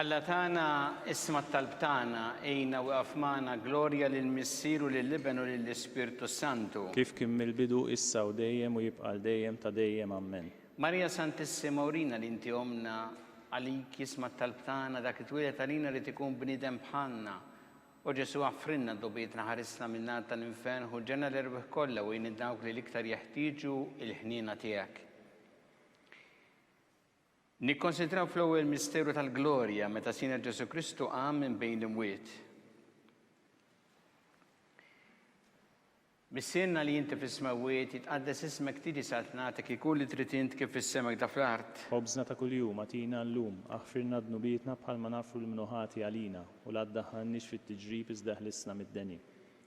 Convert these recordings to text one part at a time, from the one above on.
Alla tagħna, isma' t-talb tagħna, għinna u iqaf magħna, glorja lill-Missier u lill-Iben u lill-Ispirtu s-Santu. Kif kien mill-bidu, issa u dejjem u jibqa' għal dejjem ta' dejjem. Ammen. Marija Santissima urina li inti ommna, għalik jisma' t-talb tagħna dak li twieled għalina jrid ikun bniedem bħalna. O Ġesù aħfrilna dogħbietna ħarisna min-nar tal-infern ħu l-ġenna l-erwieħ kollha u għin lil dawk li l-iktar jeħtieġu l-ħniena tiegħek. Nikkonsidraw fl-ewwel misteru tal-glorja meta Sidna Ġesù Kristu qam minn bejn l-imwiet. Missierna li inti fis-smewwiet, jitqaddes ismek tiġi saltnatek ikun li trid int kif fis-sema kda fl-art. Ħobżna ta' kuljum agħtina llum, aħfirlna dnubietna bħalma naghfru lil min hu ħati għalina, u la ddaħħalniex fit-tiġrib iżda ħlisna mid-deni.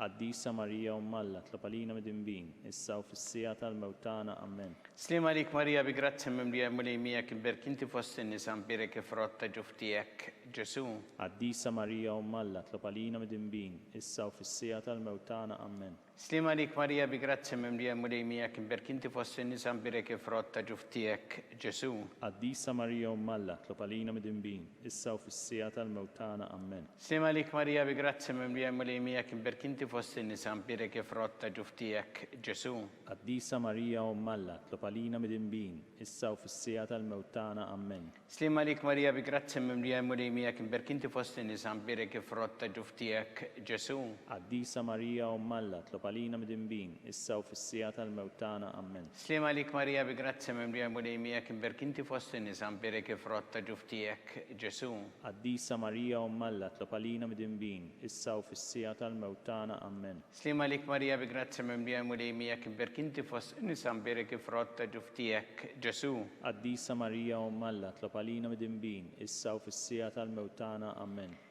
Qaddisa Marija Omm Alla, tlob għalina midinbin, issa u fis-siegħa tal-mewt tagħna. Ammen. Sliem għalik Marija bi grazzja mimlija l-Mulej miegħek imberk inti fost in-nisa mbierek il-frott ta' ġuf tiegħek Ġesu. Qaddisa Marija Omm Alla, tlob għalina midinbin, issa u fis-siegħa tal-mewt tagħna. Ammen. Sliem għalik Marija bi grazzja mimlija l-Mulej miegħek imberk inti fost in-nisa mbierek il-frott ta' ġuf tiegħek Ġesu. Qaddisa Marija Omm Alla, tlob għalina midinbin, Issa u fis-siegħa tal-mewt tagħna. Ammen. Slim għalik Marija bi grazzja mimlija l-Mulej miegħek imberk inti fost in-nisa mbierek il-frott ta' ġuf tiegħek Ġesu'. Qaddisa Marija Omm Alla tlob għalina midinbin issa u fis-siegħa tal-mewt tagħna. Ammen. Slim għalik Marija bi grazzja mimlija l-Mulej miegħek imberk inti fost in-nisa mbierek il-frott ta' ġuf tiegħek Ġesu'. Qaddisa Marija Omm Alla tlob għalina midinbin issa u fis-siegħa tal-mewt tagħna. Ammen. Sliem għalik Marija bi grazzja mimlija l-Mulej miegħek imberk inti fost in-nisa mbierek il-frott ta' ġuf tiegħek Ġesu'. Qaddisa Marija Omm Alla tlob għalina midinbin, issa u fis-siegħa tal-mewt tagħna. Ammen. Sliem għalik Marija bi grazzja mimlija l-Mulej miegħek imberk inti fost in-nisa mbierek il-frott ta' ġuf tiegħek Ġesu'. Qaddisa Marija Omm Alla tlob għalina midinbin, issa u fis-siegħa tal-mewt tagħna. Ammen.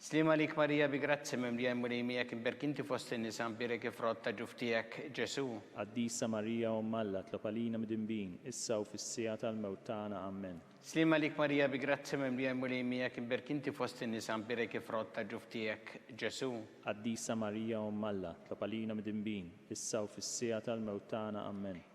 Sliem għalik Marija bi grazzja mimlija l-Mulej miegħek imberk inti fost in-nisa mbierek il-frott ta' ġuf tiegħek Ġesù. Qaddisa Marija Omm Alla tlob għalina midinbin issa u fis-siegħa tal-mewt tagħna Ammen. Sliem għalik Marija bi grazzja mimlija l-Mulej miegħek imberk inti fost in-nisa mbierek il-frott ta' ġuf tiegħek Ġesù. Qaddisa Marija Omm Alla tlob għalina midinbin issa u fis-siegħa tal-mewt tagħna Ammen.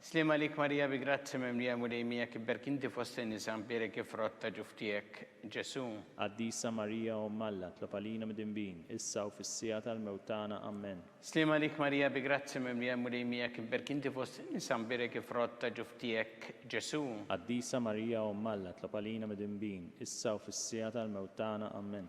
Sliem għalik Marija bi grazzja mimlija Mulej miegħek ibberk inti fost in-nisa mbierek ifrott ta' ġuf tiegħek Ġesu'. Qaddisa Marija Omm Alla tlob għalina mdinbin issa u fis-siegħa tal-mewt tagħna Ammen. Sliem għalik Marija bi grazzja mimlija Mulej miegħek ibberk inti fost in-nisa mbierek ifrott ta' ġuf tiegħek Ġesu'. Qaddisa Marija Omm Alla tlob għalina mdinbin issa u fis-siegħa tal-mewt tagħna Ammen.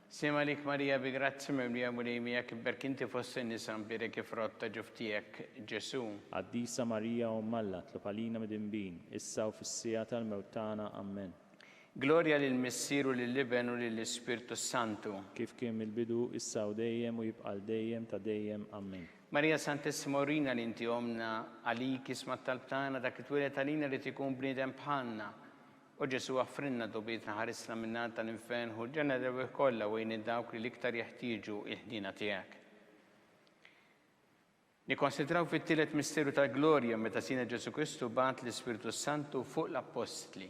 Sliem għalik Marija bi grazzja mimlija Mulej miegħek ibbierk inti fost in-nisa mbierek il-frott ta' ġuf tiegħek Ġesu'. Qaddisa Marija Omm Alla tlob għalina midinbin issa u fis-siegħa tal-mewt tagħna. Ammen. Glorja lill-Missier u lill-Iben u lill-Ispirtu s-Santu. Kif kien mill-bidu, issa u dejjem u jibqa' għal dejjem ta' dejjem. Ammen. Marija Santissima urina li inti ommna, għalik isma' t-talb tagħna, dak li twieled għalina jrid ikun bniedem bħalna, O Ġesu' aghfrilna dogbietna ħarisna min-nar tal-infern hu l-ġenna rebieħ kollha u għin lil dawk li l-iktar jeħtieġu il-ħniena tiegħek. Nikkonsidraw fit-tielet misteru tal-glorja meta Sidna Ġesu' Kristu bagħat l-Ispirtu s-Santu fuq l-Appostli.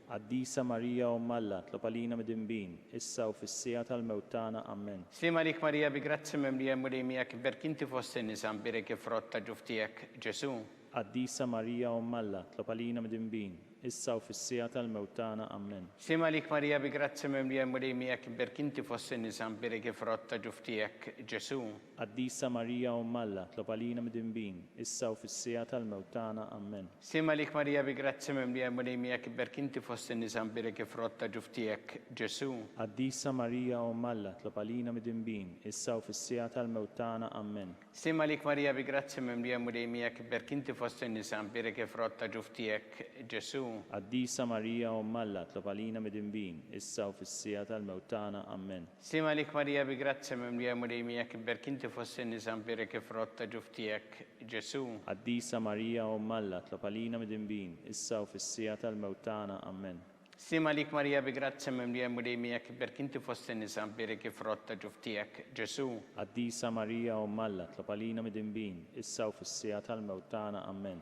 Qaddisa Marija Omm Alla, tlob għalina midinbin, issa u fis-siegħa tal-mewt tagħna. Ammen. Slim għalik Marija bi grazzja mimlija l-Mulej miegħek imberk inti fost in-nisa mbierek il-frott ta' ġuf tiegħek Ġesu. Qaddisa Marija Omm Alla, tlob għalina midinbin, issa u fis-siegħa tal-mewt tagħna. Ammen. Slim għalik Marija bi grazzja mimlija l-Mulej miegħek imberk inti fost in-nisa mbierek il-frott ta' ġuf tiegħek Ġesu. Qaddisa Marija Omm Alla, tlob għalina midinbin, issa u fis-siegħa tal-mewt tagħna. Ammen. Slim għalik Marija bi grazzja mimlija l-Mulej miegħek iberki inti fost in-nisa mbierek il-frott ta' ġuf tiegħek Ġesù. Qaddisa Marija Omm Alla, tlob għalina midinbin, issa u fis-siegħa tal-mewt tagħna. Ammen. Slim għalik Marija bi grazzja mimlija l-Mulej miegħek iberki inti fost in-nisa mbierek il-frott ta' ġuf tiegħek Ġesù. Qaddisa Marija Omm Alla, tlob għalina midinbin, issa u fis-siegħa tal-mewt tagħna. Ammen. Sliem għalik Marija bi grazzja mimlija l-Mulej miegħek ibberk inti fost in-nisa mbierek il-frott ta' ġuf tiegħek Ġesù. Qaddisa Marija Omm Alla tlob għalina midinbin, issa u fis-siegħa tal-mewt tagħna. Ammen. Sliem għalik Marija bi grazzja mimlija l-Mulej miegħek ibberk inti fost in-nisa mbierek il-frott ta' ġuf tiegħek Ġesù. Qaddisa Marija Omm Alla tlob għalina midinbin, issa u fis-siegħa tal-mewt tagħna. Ammen.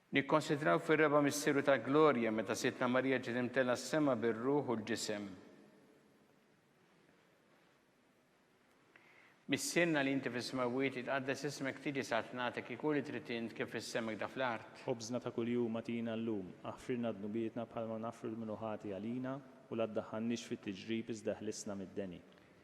Nikkonsidraw fir-reba' misteru tal-glorja meta Sidtna Marija ġiet imtellgħa s-sema bir-ruħ u l-ġisem. Missierna li inti fis-smewwiet jitqaddes ismek tiġi sat nagħtik iku li trid int kif fis-sema kda fl-art. Ħobżna ta' kuljum agħtina llum. Aħfrilna dnubietna bħalma naħfru lil min hu ħati għalina u la ddaħħalniex fit-tiġrib iżda ħlisna mid-deni.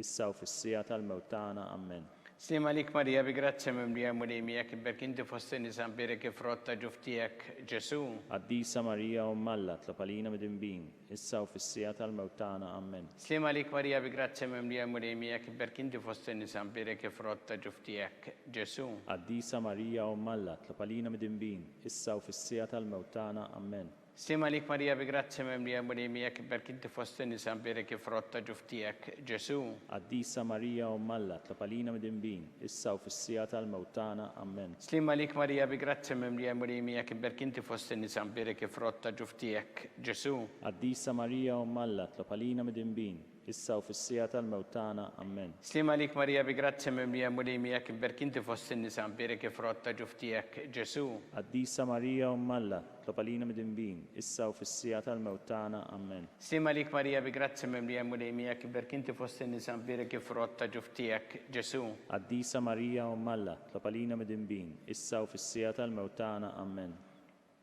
issa u fis-siegħa tal-mewt tagħna. Ammen. Sliem għalik Marija bi grazzja mimlija l-Mulej miegħek iberki inti fost in-nisa mbierek il-frott ta' ġuf tiegħek Ġesù. Qaddisa Marija Omm Alla tlob għalina midinbin, issa u fis-siegħa tal-mewt tagħna. Ammen. Sliem għalik Marija bi grazzja mimlija l-Mulej miegħek iberki inti fost in-nisa mbierek il-frott ta' ġuf tiegħek Ġesù. Qaddisa Marija Omm Alla tlob għalina midinbin, issa u fis-siegħa tal-mewt tagħna. Ammen. Slim għalik Marija bi grazzja mimlija l-Mulej miegħek iberk inti fost in-nisa mbierek il-frott ta' ġuf tiegħek Ġesù. Qaddisa Marija Omm Alla tlob għalina midinbin, issa u fis-siegħa tal-mewt tagħna. Ammen. Slim għalik Marija bi grazzja mimlija l-Mulej miegħek iberk inti fost in-nisa mbierek il-frott ta' ġuf tiegħek Ġesù. Qaddisa Marija Omm Alla tlob għalina midinbin, Issa u fis-siegħa tal-mewt tagħna. Ammen. Sliem għalik Marija bi grazzja mimlija Mulej miegħek imberk inti fost in-nisa mbierek il-frott ta' ġuf tiegħek Ġesu. Qaddisa Marija Omm Alla, tlob għalina midinbin, issa u fis-siegħa tal-mewt tagħna. Ammen. Sliem għalik Marija bi grazzja mimlija Mulej miegħek imberk inti fost in-nisa mbierek il-frott ta' ġuf tiegħek Ġesu. Qaddisa Marija Omm Alla, tlob għalina midinbin, issa u fis-siegħa tal-mewt tagħna. Ammen.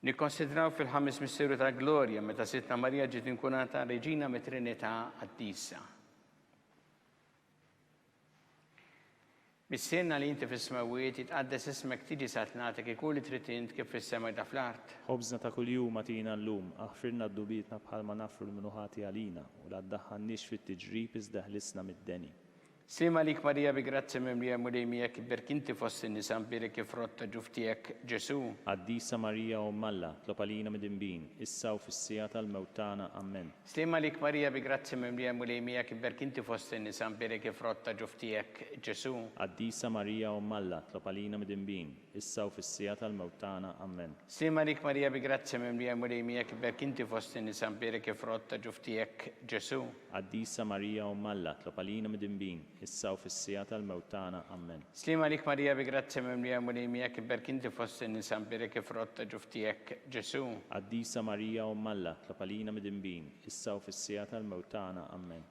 Nikkonsidraw fil-Ħames Misteru tal-Glorja meta Sidtna Marija ġiet inkurata Reġina mit-Trinità Qaddisa. Missierna li inti fis-smewwiet, jitqaddes ismek tiġi sa tnagħtek ikun li trid int kif fis-sema hekk fl-art. Ħobżna ta' kuljum agħtina llum. Aħfrilna d-dnubietna bħalma naħfru l-min hu ħati għalina, u la ddaħħalniex fit-tiġrib iżda ħlisna mid-deni. Sliem għalik Marija bi grazzja mimlija Mulej miegħek iberk inti fost in-nisa mbierek il-frott ta' ġuf tiegħek Ġesù. Qaddisa Marija Omm Alla, tlob għalina midinbin, issa u fis-siegħa tal-mewt tagħna. Ammen. Sliem għalik Marija bi grazzja mimlija Mulej miegħek iberk inti fost in-nisa mbierek il-frott ta' ġuf tiegħek Ġesù. Qaddisa Marija Omm Alla, tlob għalina midinbin, issa u fis-siegħa tal-mewt tagħna. Ammen. Ssir Marik Marija bi grazzja mimlija l-Mulej miegħek iberk inti fost in-nisa mbierek il-frott ta' ġuf tiegħek Ġesù. Qaddisa Marija Omm Alla tlob għalina midinbin, issa u fis-siegħa tal-mewt tagħna. Ammen. Ssir Marik Marija bi grazzja mimlija l-Mulej miegħek iberk inti fost in-nisa mbierek il-frott ta' ġuf tiegħek Ġesù. Qaddisa Marija Omm Alla tlob għalina midinbin, issa u fis-siegħa tal-mewt tagħna. Ammen.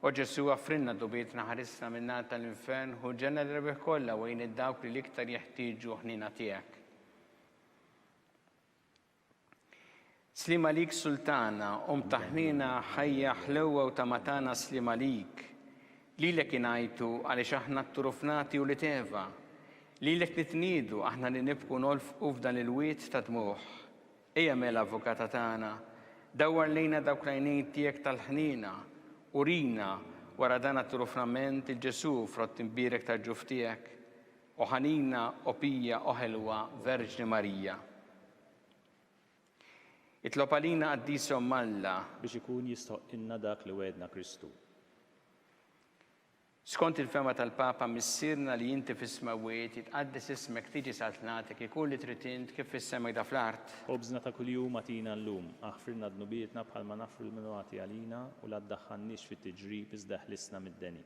O Ġesu' għafrilna dnubietna ħarisna min-nar tal-infern ħu ġenna l-erwieħ kollha u għin lil dawk li l-iktar jeħtieġu ħniena tiegħek. Sliem għalik Sultana, Omm ta' ħniena, ħajja, ħlewwa u tama' tagħna sliem għalik. Lilek ingħajtu għaliex aħna t-turufnati ulied Eva. Lilek nitniedu aħna li nibku nolfqu f'dan il-wied ta' dmugħ. Ejja mela, Avukata tagħna, dawwar lejna dawk l-għajnejn tiegħek tal-ħniena, urina, wara dan għat-turu frament, il-Ġesù, frott imbierek tal-ġuf tiegħek. O ħanina, o pija, o ħelwa Verġni Marija! Itlob għalina Qaddisa Omm Alla. Biex ikun jistħoqqilna dak li wegħedna Kristu. Skont il-fehma tal-Papa Missierna li inti fis-smewwiet, jitqaddes ismek, tiġi saltnatek, ikun li trid int, kif fis-sema jda fl-art. Ħobżna ta' kuljum agħtina llum. Aħfrilna dnubietna bħalma naħfru lil min hu għati għalina, u la ddaħħalniex fit-tiġrib, iżda eħlisna mid-deni.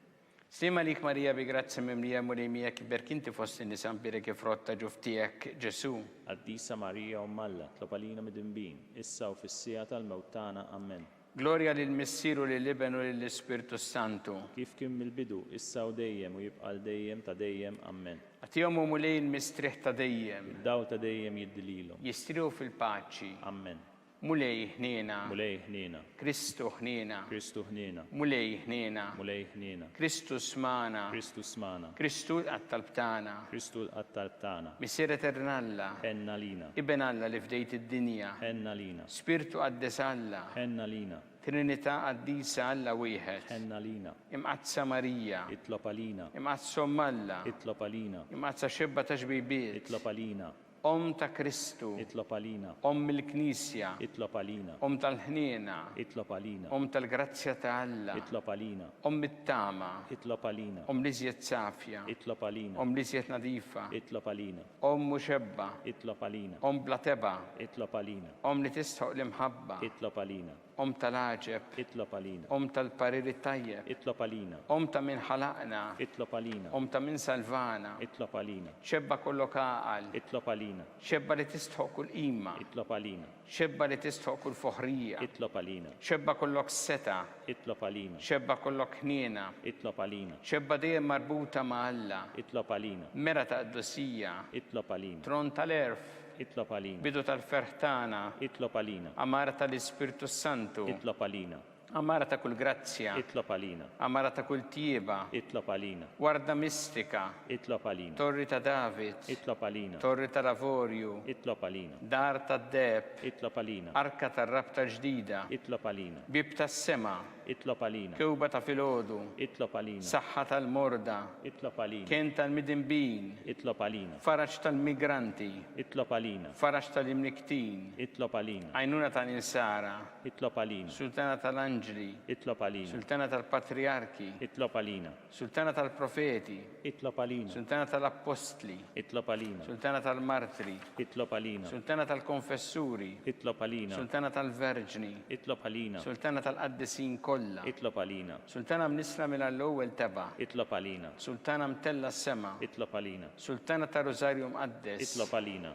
Sliem għalik Marija bi grazzja mimlija, Mulej miegħek, iberk inti fost in-nisa, nbierek il-frott ta' ġuf tiegħek, Ġesù. Qaddisa Marija Omm Alla, tlob għalina midinbin, issa u fis-siegħa tal-mewt tagħna. Amen. Glorja lill-Missier u lill-Iben u lill-Ispirtu s-Santu. Kif kien mill-bidu, issa u dejjem u jibqa' għal dejjem ta' dejjem. Ammen. Agħtihom, O Mulej, il-mistrieħ ta' dejjem. Id-dawl ta' dejjem jiddi lilhom. Jistrieħu fil-paċi. Ammen. Mulej, ħniena. Mulej, ħniena. Kristu, ħniena. Kristu, ħniena. Mulej, ħniena. Mulej, ħniena. Kristu, smagħna. Kristu, smagħna. Kristu, lqa' t-talb tagħna. Kristu, lqa' t-talb tagħna. Missier Etern Alla. Ħenn għalina. Iben Alla li fdejt id-dinja. Ħenn għalina. Spirtu Qaddes Alla. Tħenn għalina. Trinità Qaddisa Alla Wieħed. Tħenn għalina. Imqaddsa Marija. Itlob għalina. Imqaddsa Omm Alla. Itlob għalina. Imqaddsa Xebba ta' Xbibiet. Itlob għalina. Omm ta' Kristu. Itlob għalina. Omm il-Knisja. Itlob għalina. Omm tal-ħniena. Itlob għalina. Omm tal-grazzja ta' Alla. Itlob għalina. Omm it-tama. Itlob għalina. Omm l-iżjed safja. Itlob għalina. Omm l-iżjed nadifa. Itlob għalina. Omm muxebba. Itlob għalina. Omm bla tebgħa. Itlob għalina. Omm li tistħoq l-imħabba. Itlob għalina. Omm tal-għaġeb. Itlob għalina. Omm tal-parir it-tajjeb. Itlob għalina. Omm ta' min ħalaqna. Itlob għalina. Omm ta' min salvana. Itlob għalina. Xebba kollok għaqal. Itlob għalina. Xebba li tistħoq kull qima. Itlob għalina. Xebba li tistħoq kull foħrija. Itlob għalina. Xebba kollok setgħa. Itlob għalina. Xebba kollok ħniena. Itlob għalina. Xebba dejjem marbuta ma' Alla. Itlob għalina. Mera ta' qdusija. Itlob għalina. Tron tal-għerf. Itlob għalina. Bidu tal-ferħ tagħna. Itlob għalina. Għamara tal-Ispirtu s-Santu. Itlob għalina. Għamara ta' kull grazzja. Itlob għalina. Għamara ta' kull tjieba. Itlob għalina. Warda mistika. Itlob għalina. Torri ta' David. Itlob għalina. Torri tal-avorju. Itlob għalina. Dar tad-deheb. Itlob għalina. Arka tar-rabta ġdida. Itlob għalina. Bieb tas-sema. Itlob għalina. Kewba ta' filgħodu. Itlob għalina. Saħħa tal-morda. Itlob għalina. Kenn tal-midinbin. Itlob għalina. Faraġ tal-migranti. Itlob għalina. Faraġ tal-imnikktin. Itlob għalina. Għajnuna tal-insara. Itlob għalina. Sultana tal-anġli. Itlob għalina. Sultana tal-patrijarki. Itlob għalina. Sultana tal-profeti. Itlob għalina. Sultana tal-appostli. Itlob għalina. Sultana tal-martri. Itlob għalina. Sultana tal-konfessuri. Itlob għalina. Sultana tal-verġni. Itlob għalina. Sultana tal-qaddisin kollha. Itlob għalina. Sultana mnissla mill-għall-ewwel tebgħa. Itlob għalina. Sultana mtellgħa s-sema. Itlob għalina. Sultana tar-Rużarju Mqaddes. Itlob għalina.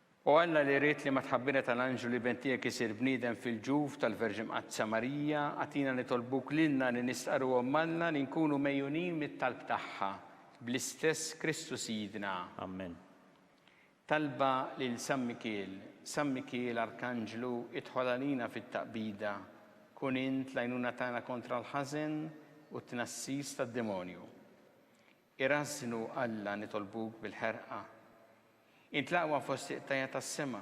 O Alla li ridt li mat-tħabbira tal-anġlu l-Iben tiegħek isir bniedem fil-ġuf tal-Verġi Mqaddsa Marija, agħtina nitolbuk lilna li nistqarruhom m'Alla li nkunu megħjunin mit-talb tagħha, bl-istess Kristu Sidna. Ammen. Talba lil San Mikiel San Mikiel arkanġlu idħol għalina fit-taqbida, kun int l-għajnuna tagħna kontra l-ħażen u t-tnassis tad-demonju. Irażżnu Alla nitolbuk bil-ħerqa. Int l-aqwa fost iqtajja' tas-sema.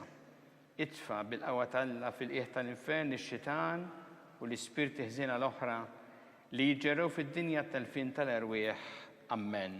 Itfa' bil-qawwa t'Alla fil-qiegħ tal-infern ix-xitan u l-ispirti ħżiena l-oħra li jiġġerrew fid-dinja t-telfien tal-erwieħ. Ammen.